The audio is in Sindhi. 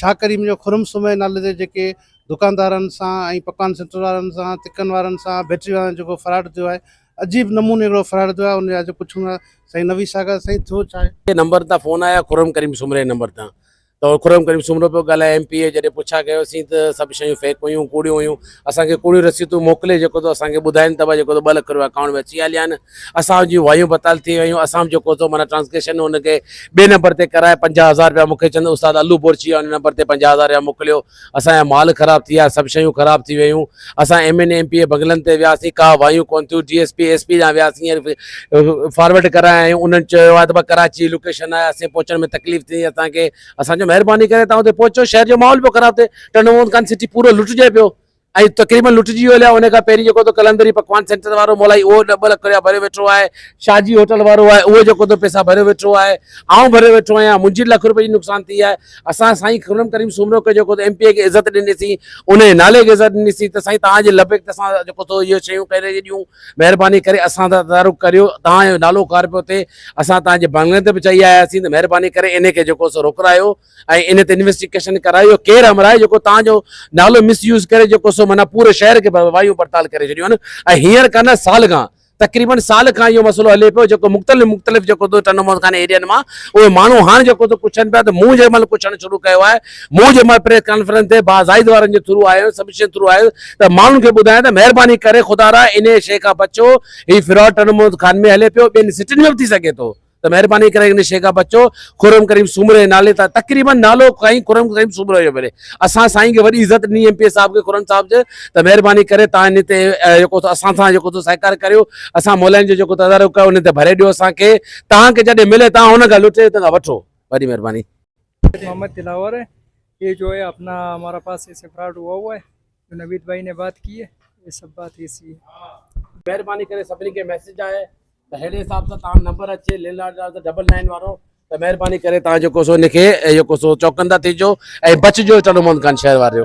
شاهه ڪريم جو خرم سومري نالي تي جيڪي دڪاندارن سان ۽ پڪوان سينٽر وارن سان تکن وارن سان بيٽري وارن سان جيڪو فراڊ ٿيو آهي عجيب نموني هڪڙو فراڊ ٿيو آهي ان جا جو پڇون ٿا سائين نويد ساگر سائين ٿيو ڇا آهي. نمبر تان فون آيا خرم ڪريم سومري جي نمبر تان ته خرم ڪريم سومرو پيو ڳالهائي ايم پي اي جڏهن پڇا ڪيوسين ته سڀ شيون فيڪ هيون ڪوڙيون هيون. اسان کي ڪوڙيون رسيتون موڪلي جيڪو ٿو اسان کي ٻڌائين ته جيڪو ٿو ٻه لک روپيا اڪائونٽ ۾ اچي ويا ليان اسان جون وايون بتال ٿي ويون اسان به جيڪو ٿو معنيٰ ٽرانسڪيشن ان کي ٻئي نمبر تي ڪرائي پنجاهه هزار روپيا مون کي چوند استاد الو بورچي ان نمبر تي پنجاهه هزار روپيا موڪليو اسان جا مال خراب ٿي ويا سڀ شيون خراب ٿي ويون اسان M N M P A بنگلن تي وياسين ڪا وايون ڪون ٿيون D S P S P ڏانهن وياسين فارورڊ ڪرايا آهيون انهن چيو آهي ته ڪراچي لوڪيشن آهي اسين پهچڻ ۾ تڪليف ٿي اسان کي اسان چيو مهرباني ڪري تان اتي پهچو شهر جو ماحول پيو خراب ٿئي ٽنڊو محمد خان سٽي پورو لٽجي پيو ۽ تقريبن لٽجي ويو ليا ان کان پهرين جيڪو تو قلندري پڪوان سينٽر وارو مولائي اهو ڏھ ٻه لک رپيا ڀريو ويٺو آهي شاهه جي هوٽل وارو آهي اهو جيڪو تو پيسا ڀريو ويٺو آهي آئون ڀريو ويٺو آهيان منهنجي لک رپئي جي نقصان ٿي آهي اسان سائين خرم ڪريم سومرو کي جيڪو ايم پي اي کي عزت ڏنيسي ان جي نالي کي عزت ڏنيسي ته سائين تان جي لبيڪ ته اسان جيڪو تو اهي شيون ڪري ڏيون مهرباني ڪري اسان تدارڪ ڪريو تان جو نالو کار پيو ٿئي اسان توهان جي بنگلن تي به چئي آيا آهياسين ته مهرباني ڪري انهي کي جيڪو سو روڪرايو ۽ انهي تي انويسٽيگيشن ڪرايو اهو ڪير امر آهي جيڪو توهان جو نالو مس يوز ڪري جيڪو سو معنيٰ پوري شهر کي وايون پڙتال ڪري ڇڏيون آهن ۽ هينئر ڪا نه سال کان تقريبن سال کان اهو مسئلو هلي پيو جيڪو مختلف مختلف جيڪو سو ٽنڊو مئل خاني ايريا مان اهي ماڻهو هاڻ جيڪو سو پڇن پيا ته مون جنهن مهل پڇڻ شروع ڪيو آهي مون جنهن مهل پريس ڪانفرنس تي با زائد وارن جي ٿرو آيو آهيان سبشن ٿرو آيو آهيان ته ماڻهن کي ٻڌايان ته مهرباني ڪري خدارا انهي شيء کان بچو هي فراڊ ٽڻ محمد خان ۾ هلي پيو ٻين سٽين ۾ به ٿي سگهي ٿو ته مهرباني ڪري ان شيخ کان بچو خرم ڪريم سومرو جي نالي تان تقريبن نالو کائين خرم ڪريم سومرو جو ملي اسان سائين کي وڏي عزت ڏني ايم پي اي صاحب کي خرم صاحب جي ته مهرباني ڪري تان ان تي جيڪو اسان سان جيڪو تو سهڪار ڪريو اسان مولائن جو جيڪو تدارڪ ڪيو ان تي ڀري ڏيو اسان کي تان کي جڏهن ملي تان هن کان لٽي تان وٺو وڏي مهرباني محمد دلاور هي جو هي اپنا همارا پاس اسي فراڊ هوا هوا هي نويد بھائي ني بات ڪي ھي يھ سب بات ھي سھي ھي. مھرباني ڪري سڀني کي ميسج آھي ته اھڙي حساب سان تاھان نمبر اچي لينڊ لارڊ جا ڊبل نائن وارو ته مھرباني ڪري تاھان جيڪو سو ان کي جيڪو سو چوڪندا ٿي جو ۽ بچ جو چلو محمد خان شھر واريو.